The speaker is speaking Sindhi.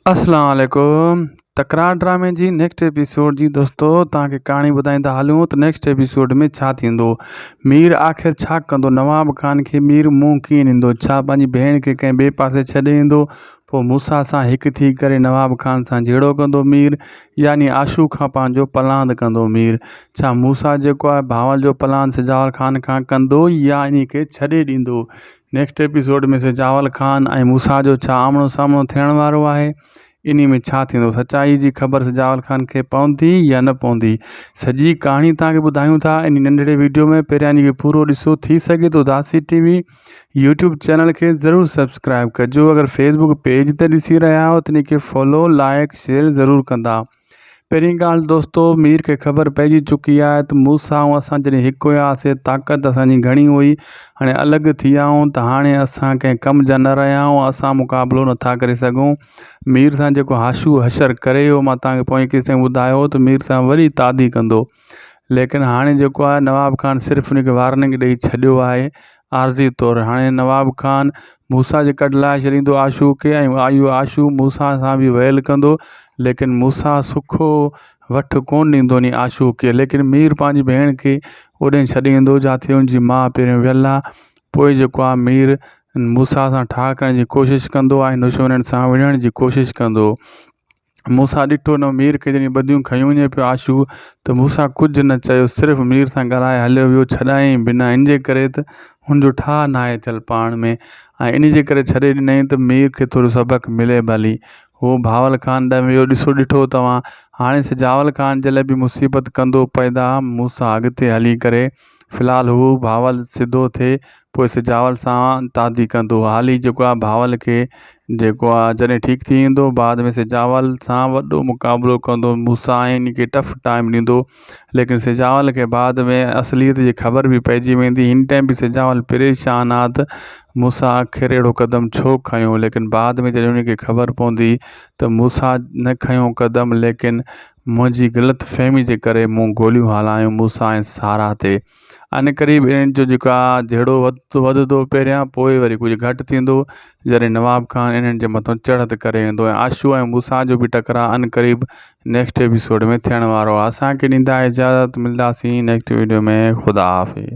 اسلام عليڪم تڪرار ڊرامي جي نيڪسٽ ايپيسوڊ جي دوستو تان کي ڪهاڻي ٻڌائيندا هلون ته نيڪسٽ ايپيسوڊ ۾ ڇا ٿيندو مير آخر ڇا ڪندو نواب خان کي مير منهن ڪيئن ڏيندو ڇا پنهنجي ڀيڻ کي ڪنهن ٻئي پاسي ڇڏي ايندو پوء موسيٰ سان هڪ ٿي ڪري نواب خان سان جهيڙو ڪندو مير يعني عاشو کان پنهنجو پلاند ڪندو مير ڇا موسيٰ جيڪو آهي بهاول جو پلاند سجاول خان کان ڪندو يا انهي کي ڇڏي ڏيندو نيڪسٽ ايپيسوڊ ۾ سي جاول خان ۽ موسيٰ جو ڇا آمڻو سامڻو ٿيڻ وارو آهي انهي ۾ ڇا ٿيندو سچائي جي خبر سي جاول خان کي پوندي يا نه پوندي سڄي ڪهاڻي توهان کي ٻڌايون ٿا انهي ننڍڙي ويڊيو ۾ پهريان انهي کي پورو ڏسو ٿي سگهي ٿو Dasi T V YouTube channel کي ضرور سبسڪرائيب ڪجو اگر فيسبوڪ پيج تي ڏسي رهيا آهيو ته انهي کي فالو لائيڪ شيئر ضرور ڪندا پهرين ڳالهه دوستو مير کي خبر پئجي چڪي آهي ته موسا ۽ اسان جڏهن هڪ هياسين طاقت اسان جي گهڻي هئي هاڻي الڳ ٿي ويا آهيون ته هاڻي اسان ڪنهن ڪم جا نه رهيا آهيون اسان مقابلو نه ٿا ڪري سگهون مير سان جيڪو حاشو حشر ڪري ويو مان توهان کي پوئين قصي ۾ ٻڌايو هو ته مير سان وري تعدي ڪندو ليڪن هاڻي جيڪو آهي نواب خان صرف ان کي وارننگ ڏئي ڇڏيو آهي عارضي طور هاڻي نواب خان موسا جي ڪڍ لاء ڇڏيندو آشو کي ۽ آيو آشو موسا سان بي ويل ڪندو ليڪن موسا سکو وٺ ڪون ڏيندو ني آشو کي ليڪن مير پنهنجي ڀيڻ کي اوڏي ڇڏيندو جاٿي ان جي ماء پهرين ويل آهي پوء جيڪو آهي مير موسا سان ٺاهه ڪرڻ جي ڪوشش ڪندو آهي نشونن سان وڙهڻ جي ڪوشش ڪندو موسيٰ ڏٺو نھ مير کي جڏھن ٻڌيون کنيو وڃي پيو عاشو تھ موسيٰ ڪجھھ نھ چيو صرف مير سان ڳالھائي ھليو ويو ڇڏايائين بھ نھ ان جي ڪري تھ ھن جو ٺاھھ ناھي ٿيل پاڻ ۾ ۽ ان جي ڪري ڇڏي ڏنائين تھ مير کي ٿورو سبق ملي بھ ھلي ھو بھاول خان ڏانھن ويو ڏسو ڏٺو توھان ھاڻي سجاول خان جي لاء بھ مصيبت ڪندو پئدا موسيٰ اڳتي ھلي ڪري في الحال هو بهاول سڌو ٿئي پوء سجاول سان تعدي ڪندو. هالي جيڪو آهي بهاول کي جيڪو آهي جڏهن ٺيڪ ٿي ويندو بعد ۾ سجاول سان وڏو مقابلو ڪندو موسيٰ ۽ ان کي ٽف ٽائيم ڏيندو ليڪن سجاول کي بعد ۾ اصليت جي خبر به پئجي ويندي هن ٽائيم به سجاول پريشان آهي ته موسيٰ آخر اهڙو قدم ڇو کنيو ليڪن بعد ۾ جڏهن ان کي خبر پوندي ته موسيٰ نه کنيو قدم ليڪن منهنجي غلط فهمي جي ڪري مون گوليون هلايون موسيٰ ۽ سارا تي. عنقريب انهن جو جيڪا جهيڙو وڌندو پهريان پوء وري ڪجهه گهٽ ٿيندو جڏهن نواب خان انهن جي مٿان چڙهت ڪري ويندو ۽ عاشو ۽ موسيٰ جو به ٽڪراء عنقريب نيڪسٽ ايپيسوڊ ۾ ٿيڻ وارو آهي. اسان کي ڏيندا اجازت ملداسين نيڪسٽ ويڊيو ۾ خدا حافظ.